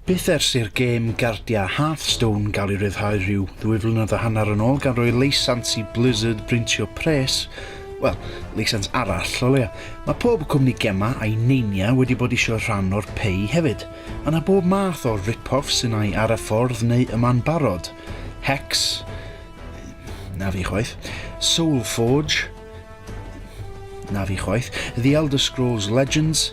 Byth ers i'r gêm gardia Hearthstone gael ei ryddhau rhyw ddwy flynedd a hanner yn ôl gan roi leisans i Blizzard brintio pres, wel, leisans arall o leia. Mae pob cwmni gema a'i neinia wedi bod eisiau rhan o'r pei hefyd. Yna bob math o rip-offs sy'n ai ar y ffordd neu yma'n barod. Hex, Na fi chwaith. Soul Forge. Na fi chwaith. The Elder Scrolls Legends.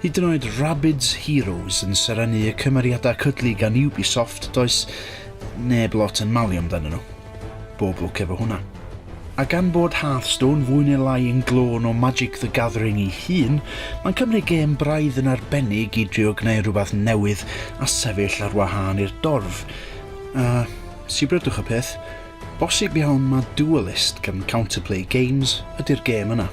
Hyd yn oed Rabbids Heroes yn serennu y cymeriadau cydlu gan Ubisoft, does neb lot yn malu amdano nhw. Bob lwc efo hwnna. A gan bod Hearthstone fwy neu lai yn glôn o Magic the Gathering ei hun, mae'n cymryd gêm braidd yn arbennig i drio gwneud rhywbeth newydd a sefyll ar wahân i'r dorf. A Sibryddwch y peth, bosib iawn ma Duelist gan Counterplay Games ydy'r gêm yna.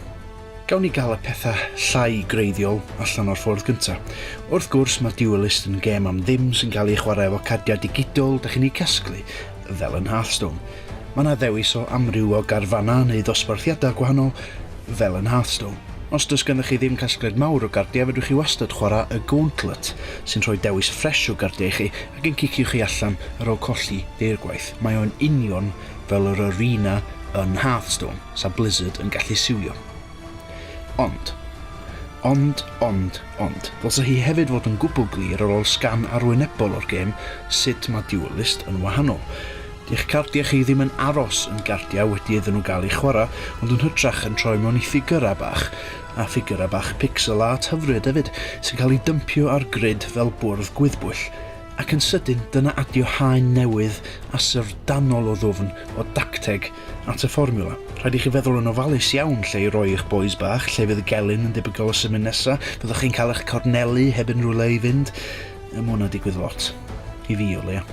Gawn ni gael y pethau llai greiddiol allan o'r ffordd gyntaf. Wrth gwrs ma Duelist yn gêm am ddim sy'n cael ei chwarae efo cardiau digidol dach chi'n eu casglu, fel yn Hearthstone. Ma na ddewis o amryw o garfannau neu ddosbarthiadau gwahanol, fel yn Hearthstone. Os does gennych chi ddim casgliad mawr o gardiau fedrwch chi wastad chwarae y Gauntlet, sy'n rhoi dewis ffresh o gardiau i chi, ac yn cicio chi allan ar ôl colli deirgwaith, mae o'n union fel yr arena yn Hearthstone, 'sa Blizzard yn gallu siwio. Ond, ond, ond, ond, ddylsa hi hefyd fod yn gwbl glir ar ôl sgan arwynebol o'r gêm sut mae Duelist yn wahanol. Di'ch cardiau chi ddim yn aros yn gardiau wedi iddyn nhw gael eu chwarae, ond yn hytrach yn troi mewn i ffigyrau bach a ffigyrau bach pixel art hyfryd hefyd sy'n cael eu dympio ar grid fel bwrdd gwyddbwyll, ac yn sydyn dyna adio haen newydd a syfrdanol o ddwfn, o dacteg, at y fformiwla. Rhaid i chi feddwl yn ofalus iawn lle i roi eich bois bach, lle fydd y gelyn yn debygol o symud nesa', fyddwch chi'n cael eich cornelu heb unrhyw le i fynd? Mae hwnna'n digwydd lot. I fi o leia.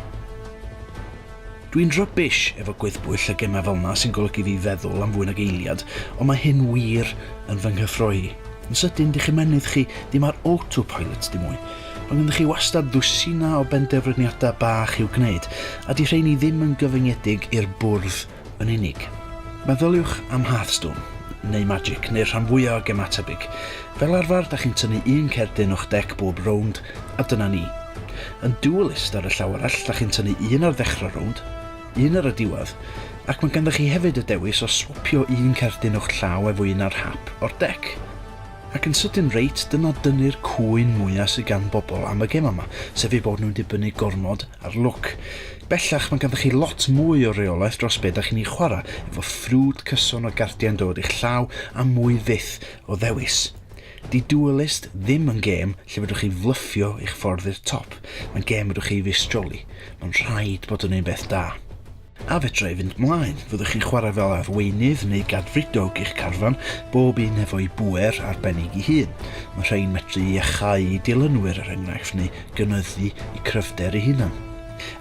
Dwi'n rubbish efo gwyddbwyll a gemau fel 'na sy'n golygu fi feddwl am fwy nag eiliad, ond mae hyn wir yn fy nghyffroi i. Yn sydyn, dych ymennydd chi ddim ar autopilot dim mwy. Mae ganddoch chi wastad ddwsina o benderfyniadau bach i'w gwneud, a 'di rheiny ddim yn gyfyngedig i'r bwrdd yn unig. Meddyliwch am Hearthstone, neu Magic, neu'r rhan fwya o gemau tebyg. Fel arfer, da chi'n tynnu un cerdyn o'ch dec bob rownd, A dyna ni. Yn dualist ar y llaw arall, da chi'n tynnu un ar ddechrau rownd, un ar y diwedd, ac mae ganddo chi hefyd y dewis o swapio un cerdyn o'ch llaw efo un ar hap o'r dec. Ac yn sydyn reit, dyna dynnu'r cŵyn mwya sy gan bobl am y gemau 'ma, sef eu bod nhw'n dibynnu gormod ar lwc. Bellach, mae ganddo chi lot mwy o reolaeth dros be da chi'n ei chwarae, efo ffrwd cyson o gardiau'n dod i'ch llaw a mwy fyth o ddewis. Di Duelist ddim yn gêm lle fedrwch chi flyffio eich ffordd i'r top, mae'n gêm fedrwch chi feistroli, mae'n rhaid bod yn un beth da. A fedra i fynd mlaen, fyddwch chi'n chwarae fel arweinydd neu gadfridog i'ch carfan, bob un efo'i bŵer arbennig i hun. Mae rhein medru iachau i dilynwyr er enghraifft neu gynyddu i cryfder i hunan.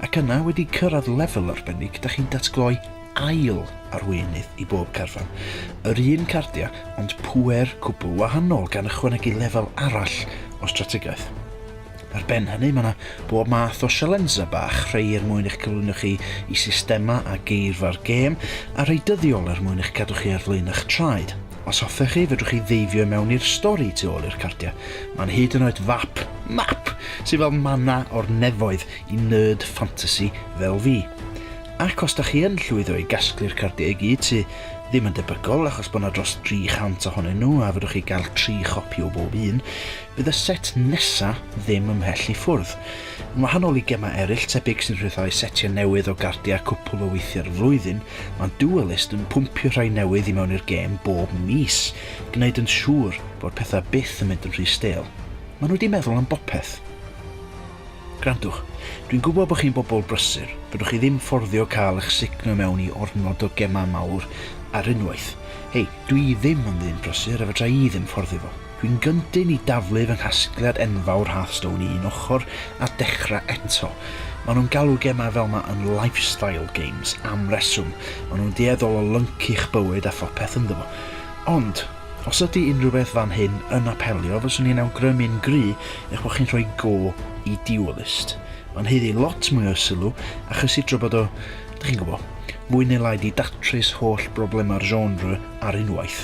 Ac yna wedi cyrraedd lefel arbennig da chi'n datgloi ail arweinydd i bob carfan, yr un cardiau ond pŵer cwbl wahanol gan ychwanegu lefel arall o strategaeth. Ar ben hynny mae yna bob math o sialensau bach, rhai er mwyn eich cyflwyno chi i systemau a geirfa'r gêm, a rhai dyddiol er mwyn eich cadw chi ar flaen eich traed. Os hoffech chi, fedrwch chi ddeifio i mewn i'r stori tu ôl i'r cardiau. Mae'n hyd yn oed fap, map, sydd fel manna o'r nefoedd i nerd ffantasi fel fi. Ac os da chi yn llwyddo i gasglu'r cardiau i gyd, sy ddim yn debygol achos bod yna dros 300 ohonyn nhw a fedrwch chi gael tri chopi o bob un, bydd y set nesa ddim ymhell i ffwrdd. Yn wahanol i gemau eraill tebyg sy'n rhyddhau setiau newydd o gardiau cwpl o weithiau'r flwyddyn, mae Duelist yn pwmpio rhai newydd i mewn i'r gêm bob mis, gwneud yn siŵr bod pethau byth yn mynd yn rhy stêl. Maen nhw wedi meddwl am bopeth. Gwrandwch, dwi'n gwybod bod chi'n bobl brysur, fedrwch chi ddim fforddio cael eich sugno i mewn i ormod o gemau mawr ar unwaith. Hei, dwi ddim yn ddyn prysur a fedra i ddim fforddio fo. Dwi'n gyndyn i daflu fy nghasgliad enfawr Hearthstone i un ochr a dechrau eto. Maen nhw'n galw gemau fel 'ma yn 'lifestyle games' am reswm, maen nhw'n dueddol o lyncu'ch bywyd a phopeth ynddo fo. Ond, Os ydy unrhyw beth fan hyn yn apelio, fyswn i'n awgrymu'n gry eich bod chi'n rhoi go i Dualist. Mae'n haeddu lot mwy o sylw a chysidro bod o, dych chi'n gwybod, mwy neu lai 'di datrys holl broblemau'r genre ar unwaith.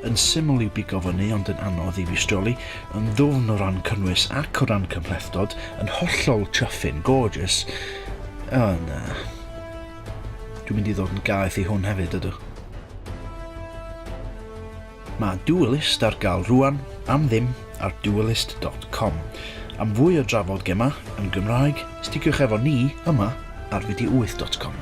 Yn syml i'w bigo fyny ond yn anodd i'w istroli, yn ddwfn o ran cynnwys ac o ran cymhlethdod, yn hollol chuffin, gorgeous, o na. Dwi'n mynd i ddod yn gaeth i hwn hefyd, ydw. Mae Duelist ar gael rwan am ddim ar duelist.com. Am fwy o drafod gemau yn Gymraeg, stigiwch efo ni yma ar fideo8.com.